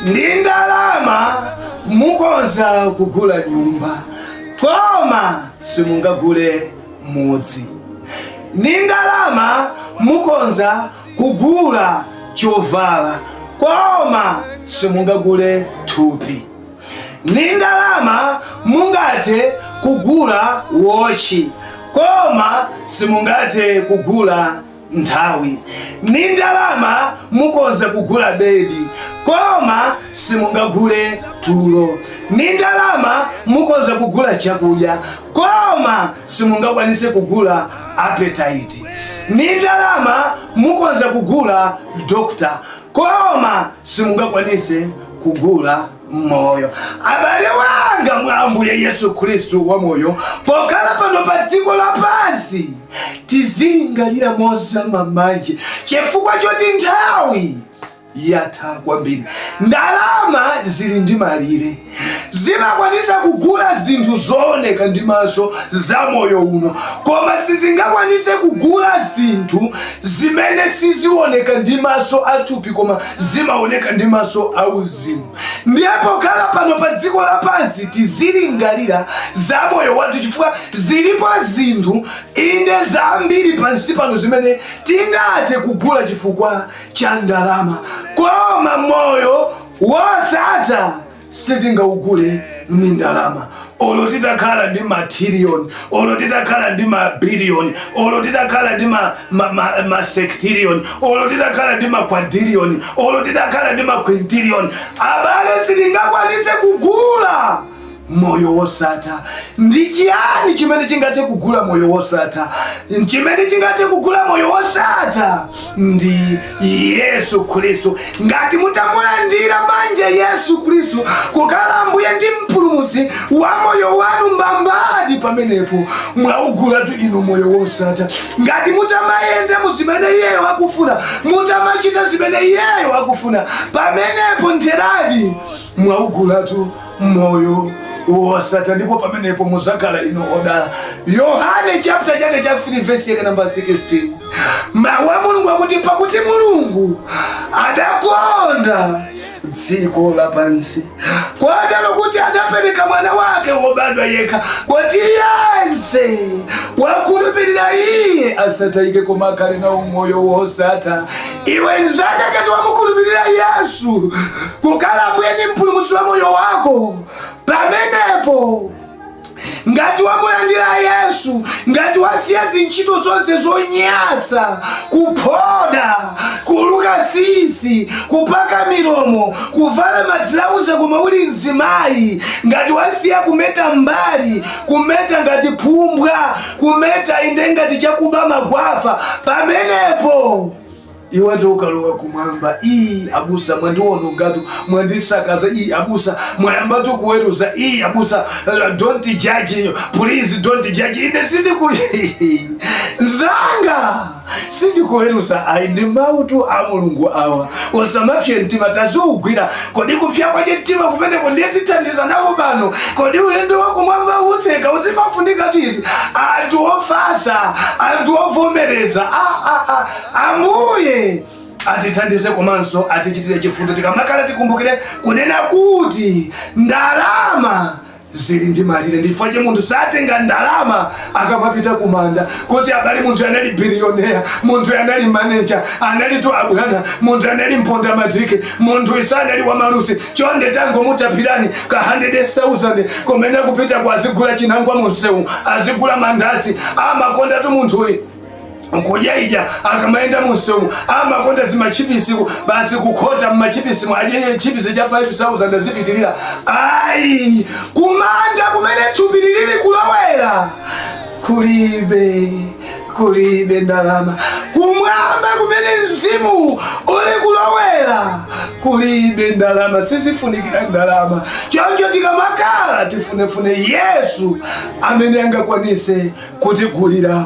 ndi ndalama mukonza kugula nyumba koma simungagule mudzi ndi ndalama mukonza kugula chovala koma simungagule thupi ndi ndalama mungathe kugula wotchi koma simungathe kugula nthawi ndi ndalama mukonza kugula bedi koma simungagule tulo ndi ndalama mukonza kugula chakudya koma simungakwanise kugula appetite ndi ndalama mukonza kugula dokota koma simungakwanise kugula moyo abale anga mwa ambuye yesu khristu wamoyo pokhala pano pa dziko lapansi tizilingalira mozama manje chifukwa choti nthawi yatha kwambiri ndalama zili ndi malire zimakwanisa kugula zinthu zooneka ndi maso za moyo uno koma sizingakwanise kugula zinthu zimene sizioneka ndi maso athupi koma zimaoneka ndi maso auzimu ndiye pokhala pano pa dziko lapansi tizilingalira za moyo wathu chifukwa zilipo zinthu inde zambiri pansi pano zimene tingathe kugula chifukwa cha ndalama koma moyo wosatha sitingaugule ndi ndalama olo titakhala ndi matiriyoni olo titakhala ndi mabiliyoni olo titakhala ndi masektiriyoni olo titakhala ndi makwadiriyoni olo titakhala ndi makwintiriyoni abale sitingakwanise kugula moyo wosatha ndi chiyani chimene chingathe kugula moyo wosatha chimene chingathe kugula moyo wosatha ndi yesu khristu ngati mutamulandira manje yesu khristu kukhala ambuye ndi mpulumusi wa moyo wanu mbambadi pamenepo mwaugulatu inu moyo wosatha ngati mutamayenda mu zimene iyeyo akufuna mutamachita zimene iyeyo akufuna pamenepo ntheradi mwaugulatu moyo wosatha ndipo pamenepo muzakhala inu odala yohane chapter chake cha 3 vesi yake namba 16 mawu a mulungu akuti pakuti mulungu adakonda dziko lapansi kotero kuti adapereka mwana wake wobadwa yekha kuti yense wakhulupirira iye asatayike koma akhale nawo moyo wosatha iwe nzanga ngati wamukhulupirira yesu kukhala mbuye ndi mpulumutsi wa moyo wako pamenepo ngati wamulandira yesu ngati wasiya zintchito zonse zonyasa kuphoda kuluka sisi kupaka milomo kuvala madzilauza koma uli mzimayi ngati wasiya kumeta mbali kumeta ngati phumbwa kumeta inde ngati chakuba magwafa pamenepo iwetu ukalowa kumwamba iyi abusa mwandiwonongatu mwandisakaza iyi abusa mwayambatu kuweruza iyi abusa uh, don't judge please don't judge ine sindiku nzanga sindikuweruza ayi ndi mawutu a mulungu awa usamapse mtima taziugwira kodi kupsa kwacho mtima kumeneko nditithandiza nawo pano kodi ulendo wakumwamba utseka uzimafunika tizi anthu ofasa anthu ovomereza Ah, ah, ah. ambuye atithandize komanso atichitire chifundo tikamakhala tikumbukire kunena kuti ndalama zili ndi malire ndifukwa che munthu satenga ndalama akamapita kumanda kuti abale munthu anali biliyonea munthu anali maneja analitu abwana munthu anali mpondamatiki munthuyi sanali wamalusi chonde tangomutapirani ka 100000 kumene kupita kwa azigula chinangwa mumsewu azigula mandasi amakondatu munthuyi kudya ija akamayenda mumsewu amakonda zimachipisi basi kukhota mmachipisimu adye chipisi cha 5000 azipitirira ayi kumanda kumene thupi lili kulowera kulibe kulibe ndalama kumwamba kumene mzimu uli kulowera kulibe ndalama sizifunikira ndalama choncho tikamakhala tifunefune yesu amene angakwanise kutigulira